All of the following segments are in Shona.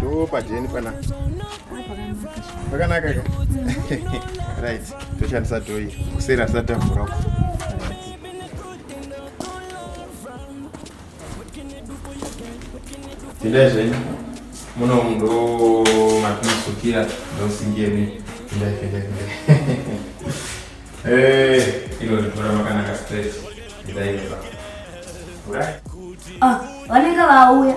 Do pajeni pana. Pakanaka ka. Right. Toshandisa do iri. Kusera tisati tavhura uko. Tindai zvenyu. Muno ndo matinosukira ndosingeni. Tindai tindai tindai. Eh, ino ritora makanaka straight. Tindai inoba. Right. Ah, vanenge vauya.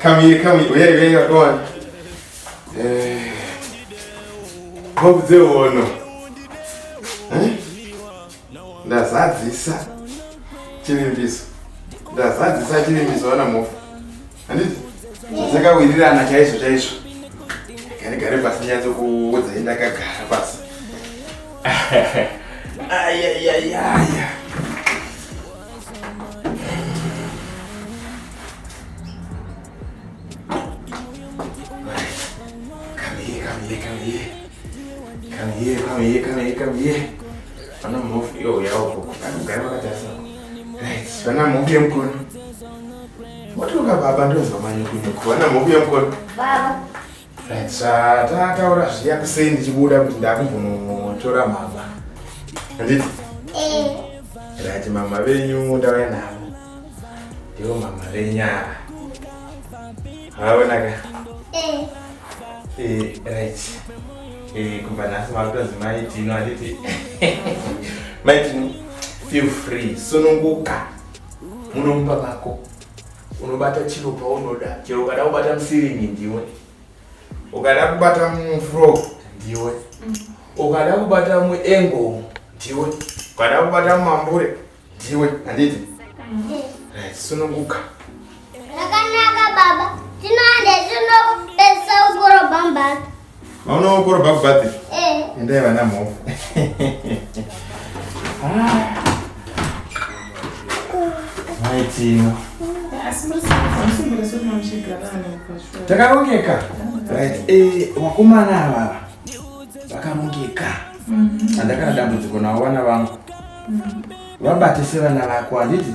come here, come here. Where, where you're going? Uh, hope they will know. Huh? ndazadzisa chivimbiso ndazadzisa chivimbiso vana mofa dzakawirirana chaizvo chaizvo gare gare pasi nyatso kuudzai ndakagara pasi ayayayaya vana mhofu yemukono Watoka baba ndonzwa manyukunyuku vana mokuya mukona. Baba. Right, sa tataura zviya kusei ndichibuda kuti ndakumbonotora mama. Handiti? Eh. Right, mama venyu ndauya navo. Ndivo mama venyu ava. Haonaka. Eh. Eh, right. Eh, kumba nhasi makutonzi mai Tino handiti? Mai Tino, feel free. Sununguka. So, muno mumba mako unobata chiro paunoda chero ukada kubata musiringi ndiwe ukada kubata mufro ndiwe mm. ukada kubata muengo ndiwe ukada kubata mumambure ndiwe handiti mm. right sununguka Zvakanaka baba, tinoenda tinopedzisa kukorobha mubhathi. Maona kukorobha kubhathi? Eh. Endai vana mhofu. Maitino. Takarongeka. Right. Eh, wakomana ava vakarongeka. Mhm. Andakana dambudziko navo vana vangu. Mhm. Vabatise vana vako handiti?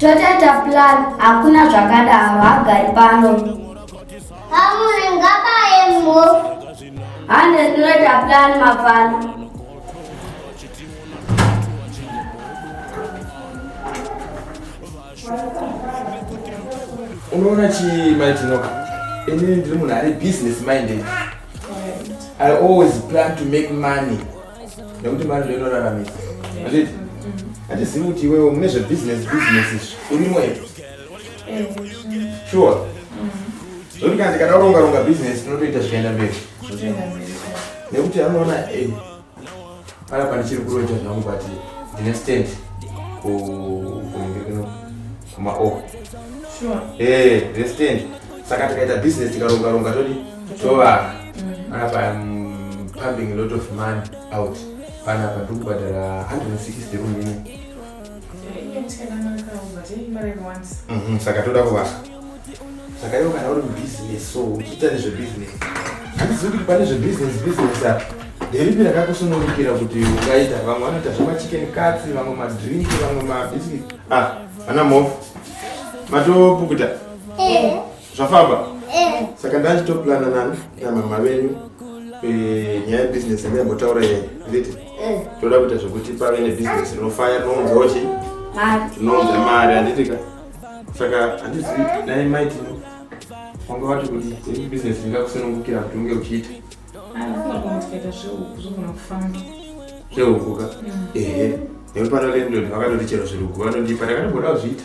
Totaita plan hakuna zvakadaro hagari pano. Hamuri ngabaye mo. Hande tinoita plan mafana. Unoona chi mai Tinoka? Ini ndiri munhu ari business minded. I always plan to make money. nekuti mari ndoinoraramisa anditi handizivi kuti iwewo mune zvebusiness business izvi urimo here eh, sure zvokuti kana tikada kuronga ronga business tinotoita zvikaenda mberi nekuti anoona eh, pana pane chiri kuroita zvangu but ndine stand kunenge kuno Kuma o. Oh. Sure. Eh, understand. Saka tikaita business tikaronga ronga todi tovaka. Mm. Apa mm, pumping a lot of money out. Pana pa ndiri kubhadhara 160 room ino. Eh, mhm, saka toda kuvaka. saka ivo kana uri mubusiness so uchiita nezvebusiness handizivi kuti pane zvebusiness business apa nderipi rakakusunungukira kuti ungaita vamwe vanoita zvemachicken cuts vamwe madrink vamwe mabiscuit ah ana mofu matopukuta eh. zvafamba eh. saka ndachitoplana nani namama venyu eh, nyaya yebusiness yandayambotaura yeye nditi toda kuita zvekuti pave nebusiness rinofaya rinounzawo chii rinounza mari handitika saka handizivi nai mike wanga wati kuti ini business ndingakusunungukira kuti unge uchiita zvehuku ka ehe nekuti pano lendod vakatoti chero zviruku vanondipa ndakandigoda kuzviita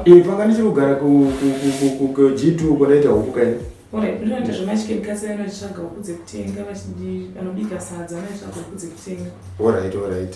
iye panga ndichiri kugara kug2 uko ndaita huku kaini ndinoita zvemachikebikasa vanotsvaga huku dzekutenga vanobika sadza vanotsvaga huku dzekutenga orit orit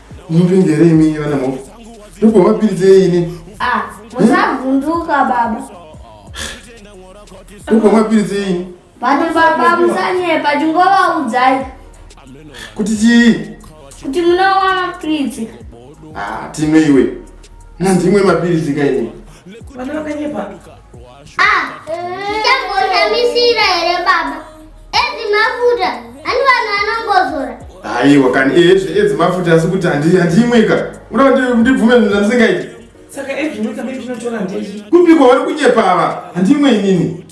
Mupindere imi vana mhofu. Ndipo vapiridze ini. Ah, musavhunduka baba. Ndipo vapiridze ini. Vanhu baba musanyepa chingovaudzai. Kuti chii? Kuti munowana mapiritsi. Ah, timwe iwe. Nandimwe mapiritsi kaini. Vana vakanyepa. ndichagoshamisira ah, here baba edzi mafuta ani vanhu vanongozora aiwa kani ezve eh, edzi mafuta asi kuti handiimwika unoda ndibvume zvinhu zvandisingaiti saka ezvinwika mei zvinotora ndei kupiko vari kunyepa ava handiimwe inini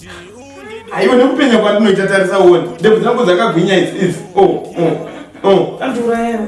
aiwa nekupenya kwandinoita tarisa uone ndebvu dzangu dzakagwinya idzi idzi o oh, o oh, o oh. andiurayana